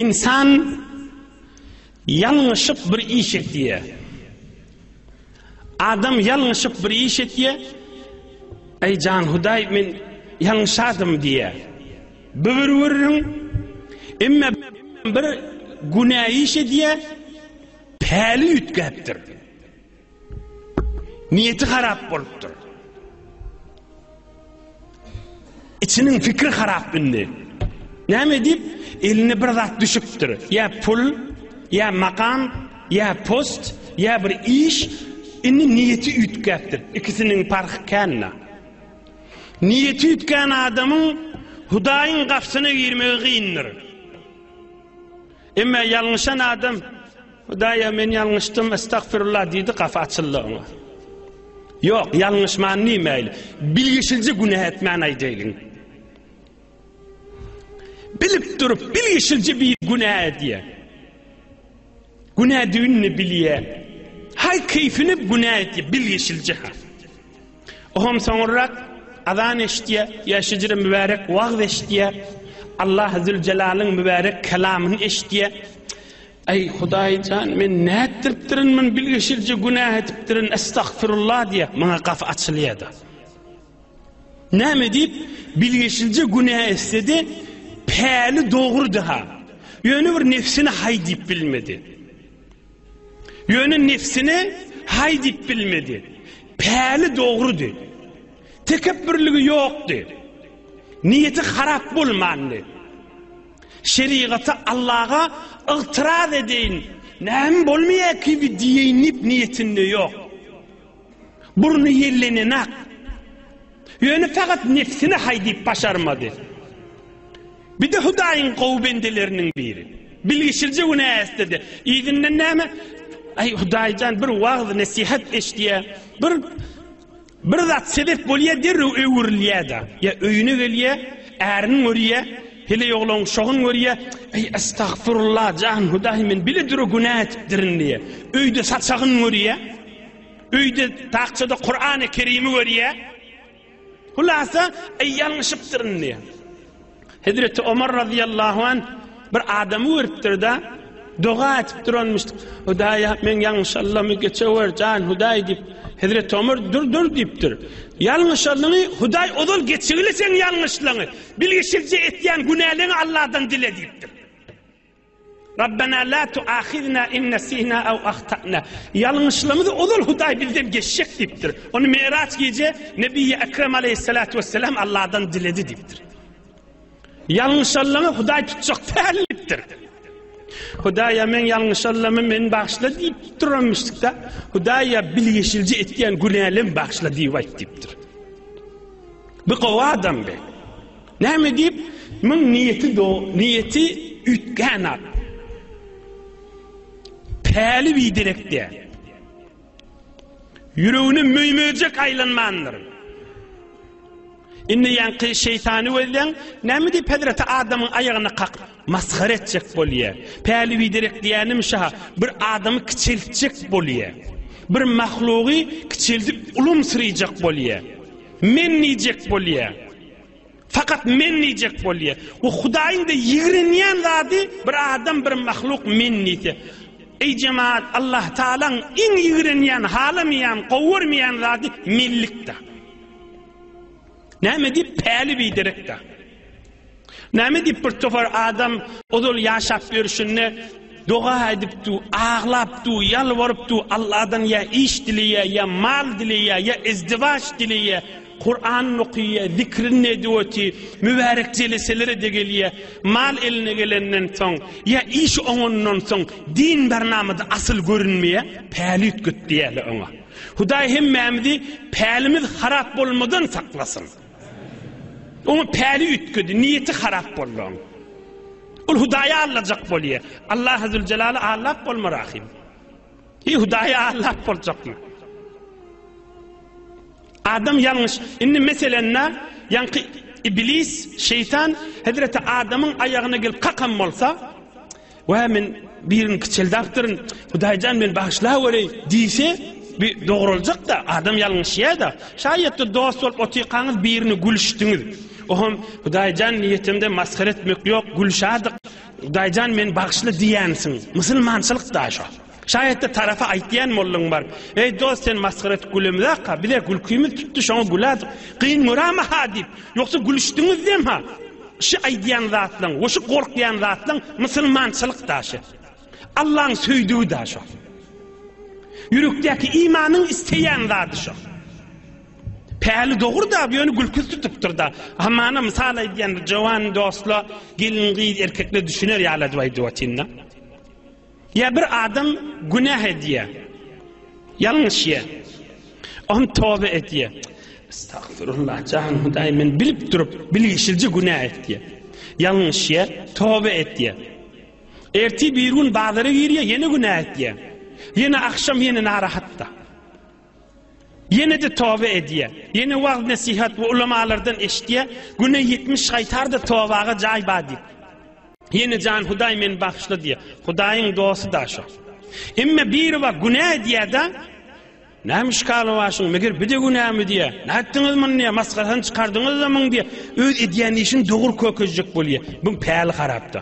Ynsan ýalňyşyp bir iş etýär. Adam ýalňyşyp bir iş etýär. Eý jan Hudaý men ýalňyşadym diýýär. Bu bir gürrüň. Emma bir günä iş edýär. Päli üýtgäpdir. Niýeti harap bolupdyr. İçiniň fikri harap indi. Näme edip? Eline bir zat düşüpdir. Ya pul, ya makam, ya post, ya bir iş. Indi niýeti üýtgäpdir. İkisiniň parhy känna. Niýeti üýtgän adamyň Hudaýyň gapysyna girmegi gyndyr. Emma ýalňyşan adam, Hudaýa men ýalňyşdym, estagfirullah diýdi, gapy açyldy oňa. Ýok, ýalňyşman diýmäýli. Bilgişilje günä etmän aýdaýlyň. Bilip durup, bilgişilje bir günä edýär. Günä düýnüni bilýär. Haý keýfini günä etýär, bilgişilje. Oňam soňurrak azan eşitýär, ýa şejere mübärek wagyz eşitýär, Allah Züljelalyn mübärek kelamyny eşitýär. Aý Hudaý jan, men nätdiripdirin, men bilgeşilje günah edipdirin, estagfirullah diýip, maňa gapy açylýardy. Näme diýip, bilgeşilje günah etsedi, päli dogrudy ha. Ýöne bir nefsini haý diýip bilmedi. Ýöne nebsine haý diýip bilmedi. Päli dogrudy. Tekepbürligi ýokdy. Niýeti harap bolmandy. Şerigata Allaga ygtyraz edeýin, näme bolmaýar kibi diýeýin diýip niýetinde ýok. Burny ýellenenak. Ýöne fakat nefsine hay diyip başarmady. Bir de Hudaýyň gowy bendeleriniň biri. Bilgişilje günä ästedi. Yzyndan näme? Ay Hudaýjan bir wagz nesihat eşdiye, bir bir zat sebep bolýa derrew öwrülýä-de. Ýa öýüne gelýä, ärini görýä, hele ýoglan şogun görýä. Ay astagfirullah jan Hudaý men bile dürü günä etipdirin diýe. Öýde saçagyn görýä. Öýde takçada Kur'an-y Kerimi görýä. Hulasa, ey ýalňyşypdyryn diýä. Hezreti Omar radiyallahu an bir adamy görüpdir da, doga etip duranmyş. Hudaya men ýalňyşallamy geçewer jan Huday diýip. Hezreti Omar dur dur diýipdir. Ýalňyşallyňy Huday ozal geçigili sen ýalňyşlygyňy. Bilişilje etýän günäleňi Allahdan dile diýipdir. Rabbena la tuahizna in nesina aw ahtana. Ýalňyşlymyzy ozal Hudaý bizden geçjek diýipdir. Ony Meýraç gije Nebiýi Ekrem aleýhissalatu wessalam Allahdan diledi diýipdir. Ýalňyşanlaňy Hudaý tutjak däl diýipdir. Hudaýa men ýalňyşanlamy men bagşla diýip duramyşdykda, Hudaýa bilgeşilji etýän günälim bagşla diýip aýt diýipdir. Bu gowy adam be. Näme diýip, muň niýeti do, niýeti üýtgän at. Päli biderek däl. Ýüregine möý-möjek aýlanmandyr. Indi ýaňky şeýtany gözleň, näme diýip hezreti adamyň aýagyna kakyp, masgara etjek bolýa. Päli biderek diýänim şa, bir adamy kiçeltjek bolýa. Bir mahlugy kiçeldip ulumsyryjak bolýa. Men diýjek bolýa. Fakat men diyecek bolye. O Hudaýyň da ýigrenýän zady bir adam bir mahluk men diýse. Eý jemaat, Allah Taalaň iň ýigrenýän, halamaýan, gowarmaýan zady mellikde. Näme diýip päli biderekde. Näme diýip bir topar adam ozal ýaşap ýörşünde doga aýdypdy, aglapdy, ýalbarypdy, Allahdan ýa iş dileýär, ýa mal dileýär, ýa izdiwaç dileýär. Kuran okyýa, zikrin nedweti, mübärek jeleselere-de gelýä. Mal eline gelenden soň, ýa işi oňandan soň din barnamada asyl görünmeýä, päli üýtget diýäýeli oňa. Hudaý hemmämizi pälimiz harap bolmadan saklasyn. Oňa päli üýtgedi, niýeti harap boldy oň. Ol Hudaýa allajak bolýa. Allaha züljelala allap bolmar ahym. Eý Hudaýa allap boljakmy? Adam ýalňyş. Indi meselenda, ýaňky Iblis, şeýtan, hezreti Adamyň aýagyna gelip kakan bolsa, Wah, men birini kiçeldäpdirin, Hudaý jan, meni bagyşlawereý diýse, bu dogruljak-da, adam ýalňyşýar-da. Şaýatda dost bolup otyrkaňyz birini gülüşdiňiz. O hem, Hudaý jan, niýetimde masgara etmek ýok, gülüşärdik. Hudaý jan, meni bagyşla diýensiň. Musulmançylyk-da şo. Şaýatda tarapa aýtýan mollaň bar. Eý, dost, sen masgara edip gülemizak-a, biz-ä gülkimiz tutdy, şoňa gülädik. Gyn göräme-ha diýip, ýogsa gülüşdiňizdem-ha. Şi aýdýan zatlaň we şi gorkýan zatlaň musulmançylyk daşy. Allaň söýdügi da şo. Ýürekdäki imanyň isleýän zady şo. Päli dogry-da, ýöne gülküsi tutupdyr-da. Hamana mysal aýdýan jowan dostla gelin-gyz erkekler düşüner ýaly edip aýdyp otyryn-da. Ýa bir adam günäh edýär, ýalňyş ýer. Oňa toba edýär. Estagfirullah, jan Hudaý, men bilip durup, bilgişilje günäh etýär. Ýalňyş ýer, toba edýär. Ertir bir gün bazara girýär, ýene günäh edýär. Ýene agşam ýene narahatda. Ýene-de toba edýär. Ýene wagyz-nesihat we ulamalardan eşitýär, Güne ýetmiş gaýtar-da tobaga jaý bar diýip. Ýene Jan Hudaý meni bagyşla diýýär. Hudaýyň dosty-da şo. Emma biri bar, günä edýär-de, Näme işgaly bar şuň, meger bu-da günämi diýýär. Nätdiňiz muny diýýär, masgarasyny çykardyňyz-da muň diýýär. Öz edýän işini dogry kökezjek bolýar. Buň päli harap-da.